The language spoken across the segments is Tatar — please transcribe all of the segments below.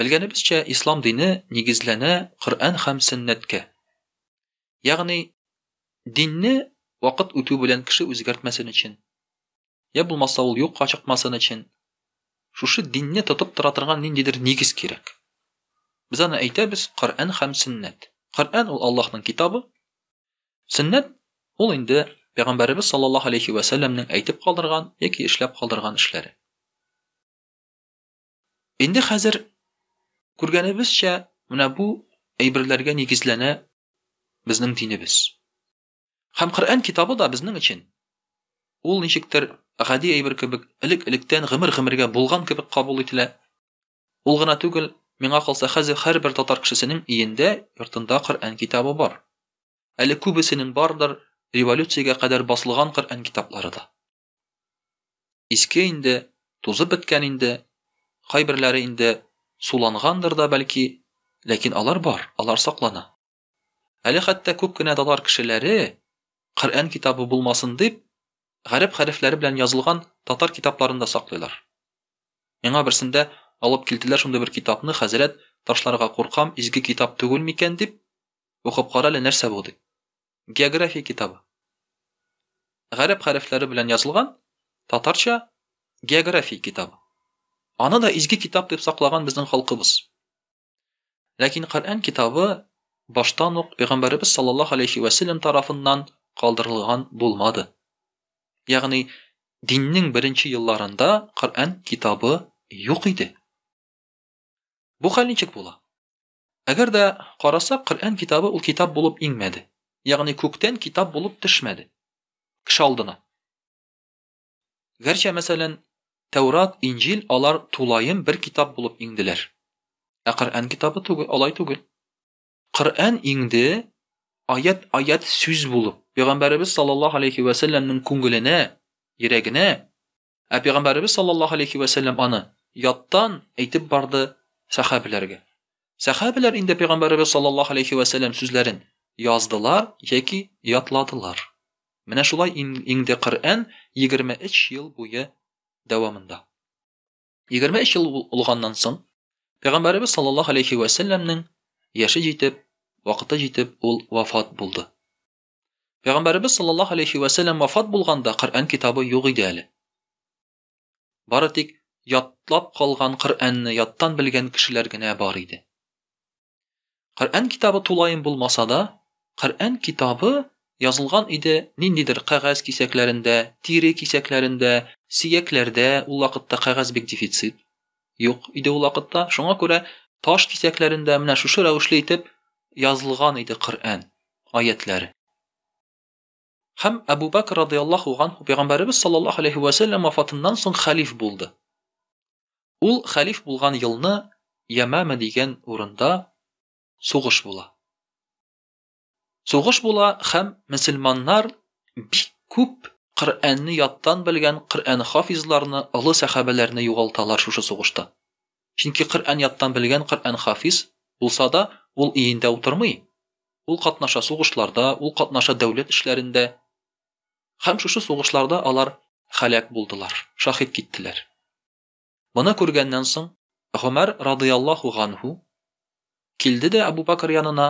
Белгәнебезчә, ислам дине нигезләнә Коръән һәм сөннәткә. Ягъни, динне вакыт үтү белән кеше үзгәртмәсен өчен, я булмаса ул юкка чыкмасын өчен, шушы динне тотып тора торган ниндидер нигез кирәк. Без аны әйтәбез Коръән һәм сөннәт. Коръән ул Аллаһның китабы, сөннәт ул инде Пәйгамбәребез саллаллаһу алейхи вә сәлләмнең әйтеп калдырган яки эшләп калдырган эшләре. Инде хәзер күргәнебезчә, менә бу әйберләргә нигезләнә безнең динебез. Һәм Коръән китабы да безнең өчен ул ничектер гади әйбер кебек элек-электән гомер-гомергә булган кебек кабул ителә. Ул гына түгел, миңа калса хәзер һәрбер татар кешесенең өендә, йортында Коръән китабы бар. Әле күбесенең бардыр революциягә кадәр басылган Коръән китаплары да. Иске инде, тузып беткән инде, кайберләре инде сулангандыр да бәлки, ләкин алар бар, алар саклана. Әле хәтта күп кенә татар кешеләре Коръән китабы булмасын дип, гарәп хәрефләре белән язылган татар китапларын да саклыйлар. Миңа берсендә алып килделәр шундый бер китапны, хәзрәт, ташларга куркам, изге китап түгел микән дип, укып кара әле нәрсә бу дип. география китабы. Гарәп хәрефләре белән язылган татарча география китабы. Аны да изге китап дип саклаган безнең халкыбыз. Ләкин Коръән китабы баштан ук пәйгамбәребез саллаллаһу алейхи ва саллям тарафыннан калдырылган булмады. Ягъни диннең беренче елларында Коръән китабы юк иде. Бу хәл ничек була? Әгәр дә карасак, Коръән китабы ул китап булып иңмәде. Ягъни күктән китап булып төшмәде кеше алдына. Гәрчә, мәсәлән, Тәүрат, Инҗил алар тулаем бер китап булып иңделәр. Ә Коръән китабы түгел, алай түгел. Коръән иңде аят-аят сүз булып, пәйгамбәребез саллаллаһу алейхи ва сәлләмнең күңеленә, йөрәгенә, Ә пәйгамбәребез саллаллаһу алейхи вә сәлләм аны яттан әйтеп барды сәхабәләргә. Сәхабәләр инде пәйгамбәребез саллаллаһу алейхи вә сәлләм сүзләрен яздылар яки ятладылар. Менә шулай иңде Коръән 23 ел буе дәвамында. 23 ел булганнан соң пәйгамбәребез саллаллаһу алейхи вә сәлләмнең яше җитеп, вакыты җитеп ул вафат булды. Пәйгамбәребез саллаллаһу алейхи ва сәлләм вафат булганда Коръән китабы юк иде әле. Бары тик ятлап калган Коръәнне яттан белгән кешеләр генә бар иде. Коръән китабы тулаем булмаса да, Коръән китабы язылган иде ниндидер кәгазь кисәкләрендә, тире кисәкләрендә, сиякләрдә, ул вакытта кәгазь бик дефицит. юк иде ул вакытта. Шуңа күрә таш кисәкләрендә менә шушы рәвешле итеп язылган иде Коръән аятләре. Һәм Әбу Бәкр радиаллаһу анһу пәйгамбәребез саллаллаһу алейһи вә сәлләм вафатыннан соң хәлиф булды. Ул хәлиф булган елны Ямама дигән урында сугыш була. Сугыш була һәм мөселманнар бик күп Коръәнне яттан белгән Коръән хафизларны, олы сәхабәләрне югалталар шушы сугышта. Чөнки Коръән яттан белгән Коръән хафиз булса да, ул өендә утырмый, ул катнаша сугышларда, ул катнаша дәүләт эшләрендә. Һәм шушы сугышларда алар һәлак булдылар, шаһит киттеләр. Моны күргәннән соң, Гомәр радыяллаһу ганһу килде дә Әбу Бәкер янына,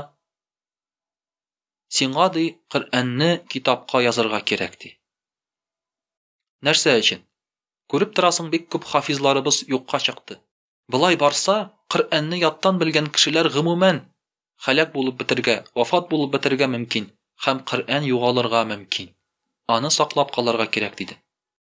Сиңа, ди, Коръәнне китапка язырга кирәк, ди. Нәрсә өчен? Күреп торасың, бик күп хафизларыбыз юкка чыкты. Болай барса, Коръәнне яттан белгән кешеләр гомумән һәлак булып бетергә, вафат булып бетергә мөмкин һәм Коръән югалырга мөмкин. Аны саклап калырга кирәк, диде.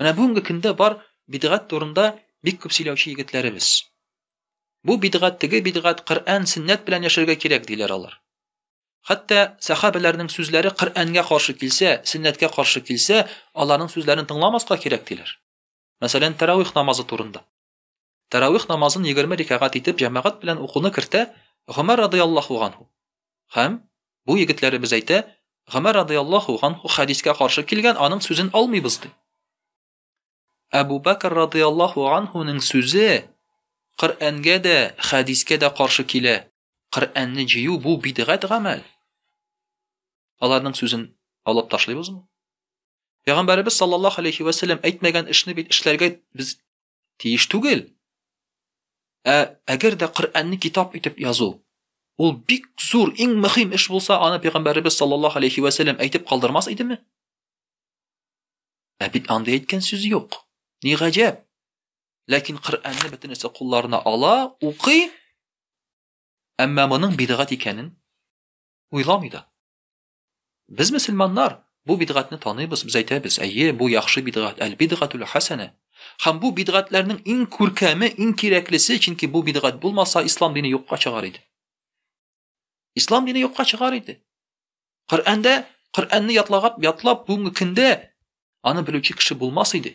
Менә бүгенге көндә бар бидгат турында бик күп сөйләүче егетләребез. Бу бидгат, теге бидгат, Коръән, сөннәт белән яшәргә кирәк диләр алар. Хәтта сахабәләрнең сүзләре Коръәнгә каршы килсә, сөннәткә каршы килсә, аларның сүзләрен тыңламаска кирәк диләр. Мәсәлән, тәравих намазы турында. Тәравих намазын егерме рикәгать итеп җәмәгать белән укуны кертә Гомәр радыяллаһу ганһу. Һәм, бу егетләребез әйтә, Гомәр радыяллаһу ганһу хәдискә каршы килгән, аның сүзен алмыйбыз, ди. Әбу Бәкер радыяллаһу ганһуның сүзе Коръәнгә дә, хәдискә дә каршы килә. Коръәнне җыю бу бидгать гамәл. Аларның сүзен алып ташлыйбызмы? Пәйгамбәребез саллаллаһу алейхи вә сәлләм әйтмәгән эшне бит эшләргә без тиеш түгел. Ә әгәр дә Коръәнне китап итеп язу, ул бик зур, иң мөһим эш булса, аны пәйгамбәребез саллаллаһу алейхи ва сәлләм әйтеп калдырмас идеме? Ә бит андый әйткән сүз юк. Ни гаҗәп. Ләкин Коръәнне бөтенесе кулларына ала, укый, әмма моның бидгат икәнен уйламый да. Без мөселманнар бу бидгатьне таныйбыз, без әйтәбез, әйе, бу яхшы бидгат, әл бидгатул хасана. Хәм бу бидгатләрнең иң күркәме, иң кирәклесе, чөнки бу бидгат булмаса, ислам дине юкка чыгар иде. Ислам дине юкка чыгар иде. Коръәндә, Коръәнне ятлагап, ятлап бүгенге көндә аны белүче кеше булмас иде.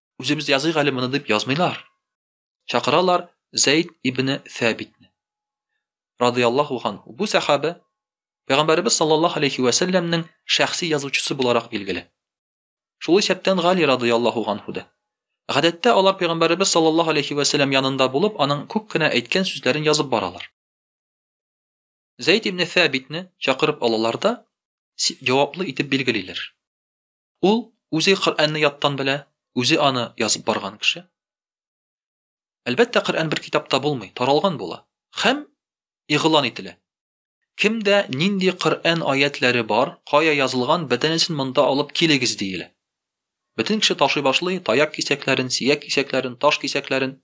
Үзебез языйк әле моны дип язмыйлар. Чакыралар Зәйд ибн Сәбитне. Радияллаху хан. Бу сахабә Пәйгамбәрбез саллаллаһу алейхи ва сәлламнең шәхси язучысы буларак билгеле. Шул исәптән Гали радияллаху анху да. Гадәттә алар Пәйгамбәрбез саллаллаһу алейхи ва сәллам янында булып, аның күп кенә әйткән сүзләрен язып баралар. Зәйд ибн Сәбитне чакырып алалар да җаваплы итеп билгелиләр. Ул үзе Коръәнне яттан белә, үзе аны язып барган кеше. Әлбәттә, Коръән бер китапта булмый, таралган була һәм игълан ителә. Кемдә нинди Коръән аятләре бар, кая язылган, бөтенесен монда алып килегез диелә. Бөтен кеше ташый башлый, таяк кисәкләрен, сияк кисәкләрен, таш кисәкләрен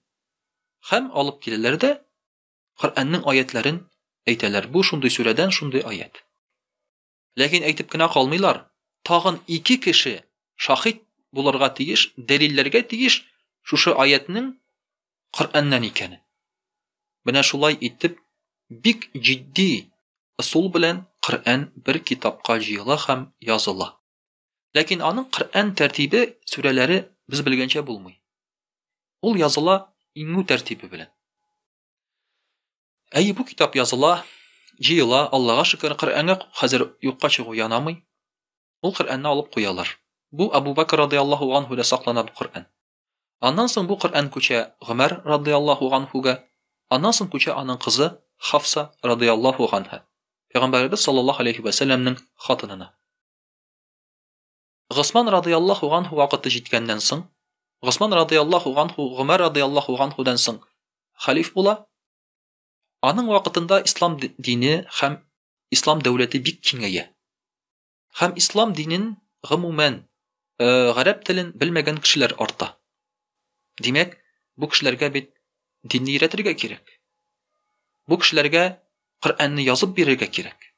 һәм алып киләләр дә Коръәннең аятләрен әйтәләр. Бу шундый сүрәдән шундый аят. Ләкин әйтеп кенә калмыйлар, тагын ике кеше шаһит булырга тиеш, дәлилләргә тиеш шушы аятьнең Коръәннән икәнен. Менә шулай итеп, бик җитди ысул белән Коръән бер китапка җыела һәм языла. Ләкин аның Коръән тәртибе, сүрәләре без белгәнчә булмый. Ул языла иңү тәртибе белән. Әйе, бу китап языла, җыела, Аллага шөкер, Коръәнгә хәзер юкка чыгу янамый. Ул Коръәнне алып куялар. Бу Абу Бәкр радиаллаһу анһуда саклана бу Коръән. Аннан соң бу Коръән күчә Гомәр радиаллаһу анһуга, аннан соң күчә аның кызы Хафса радиаллаһу анһа, пәйгамбәребез саллаллаһу алейхи ва сәлләмнең хатынына. Госман радыяллаһу ганһу вакыты җиткәннән соң, Госман радыяллаһу ганһу Гомәр радыяллаһу ганһудан соң хәлиф була. Аның вакытында ислам дине һәм ислам дәүләте бик киңәя. Һәм ислам динен гомумән э, гарәп телен белмәгән кешеләр арта. Димәк, бу кешеләргә бит динне өйрәтергә кирәк. Бу кешеләргә Коръәнне язып бирергә кирәк.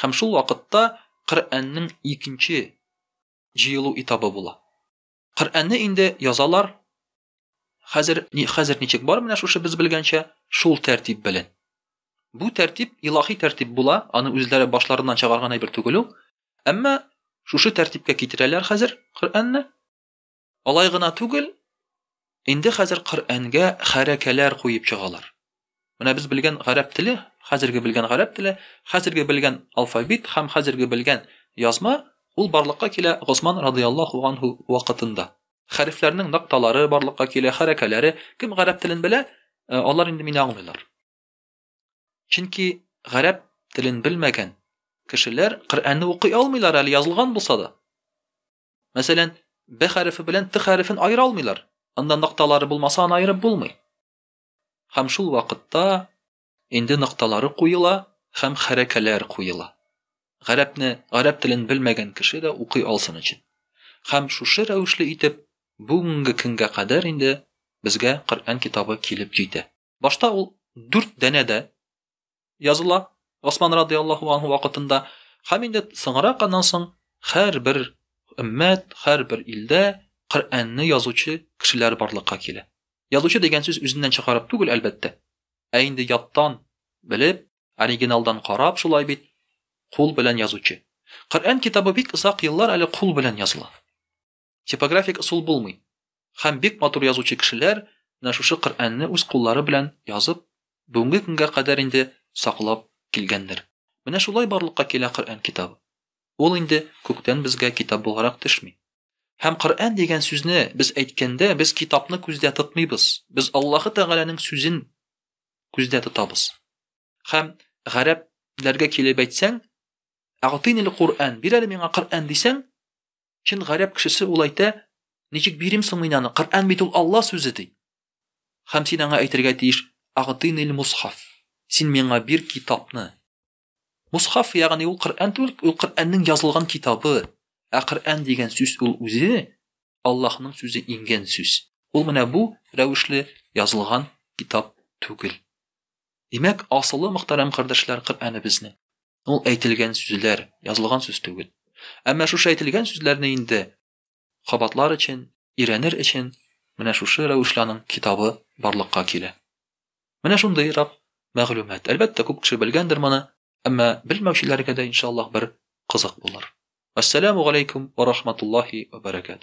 Һәм шул вакытта Коръәннең икенче җыелу этабы була. Коръәнне инде язалар. Хәзер ни хәзер ничек бар менә шушы без белгәнчә, шул тәртип белән. Бу тәртип илаһи тәртип була, аны үзләре башларыннан чыгарган әйбер түгел ул. Әмма шушы тәртипкә китерәләр хәзер Коръәнне. Алай гына түгел, инде хәзер Коръәнгә хәрәкәләр куеп чыгалар. Менә без белгән гарәп теле, хәзерге белгән гарәп теле, хәзерге белгән алфавит һәм хәзерге белгән язма, ул барлыкка килә Госман радыяллаһу анһу вакытында. Хәрефләрнең нокталары барлыкка килә, хәрәкәләре. Кем гарәп телен белә, э, алар инде мине аңлыйлар. Чөнки гарәп телен белмәгән кешеләр Коръәнне укый алмыйлар әле язылган булса да. Мәсәлән, б хәрефе белән т хәрефен аера алмыйлар. Анда нокталары булмаса, аны аерып булмый. Һәм шул вакытта инде нокталары куела һәм хәрәкәләр куела. Гарәпне, гарәп телен белмәгән кеше дә укый алсын өчен. Һәм шушы рәвешле итеп бүгенге көнгә кадәр инде безгә Коръән китабы килеп җитә. Башта ул дүрт дәнә дә языла Госман радиаллаху анху вакытында һәм инде соңрак аннан соң һәрбер өммәт, һәрбер илдә Коръәнне язучы кешеләр барлыкка килә. Язучы дигән сүз үзеннән чыгарып түгел, әлбәттә. Ә инде яттан белеп, оригиналдан карап шулай бит, кул белән язучы. Коръән китабы бик озак еллар әле кул белән языла. Типографик ысул булмый. Хәм бик матур язучы кешеләр менә шушы Коръәнне үз куллары белән язып, бүгенге көнгә кадәр инде саклап килгәннәр. Менә шулай барлыкка килә Коръән китабы. Ул инде күктән безгә китап буларак төшми. Хәм Коръән дигән сүзне без әйткәндә, без китапны күздә тотмыйбыз, без Аллаһы Тәгаләнең сүзен күздә тотабыз. Хәм гарәп ләргә килеп әйтсәң, Әгътыйнил Коръән, бир әле миңа Коръән дисәң, Чын гарәп кешесе ул әйтә, Ничек бирим соң мин аны? Коръән бит ул Алла сүзе ди. Хәм син аңа әйтергә тиеш, Агтыйнил мусхаф. Син миңа бир китапны. Мусхаф, ягъни ул Коръән түгел, ул Коръәннең язылган китабы. Ә Коръән дигән сүз ул үзе Аллаһның сүзе иңгән сүз. Ул менә бу рәвешле язылган китап түгел. Димәк, асылы мөхтәрәм кардәшләр Коръәне безнең. Ул әйтелгән сүзләр, язылган сүз түгел. Әмма шушы әйтелгән сүзләрне инде кабатлар өчен, ирәнер өчен менә шушы рәвешләнең китабы барлыкка килә. Менә шундый рап мәгълүмат. Әлбәттә, күп кеше белгәндер моны, әмма белмәүчеләргә дә иншаллаһ бер кызык булыр. Ассаламу алейкум ва рахматуллахи ва баракату.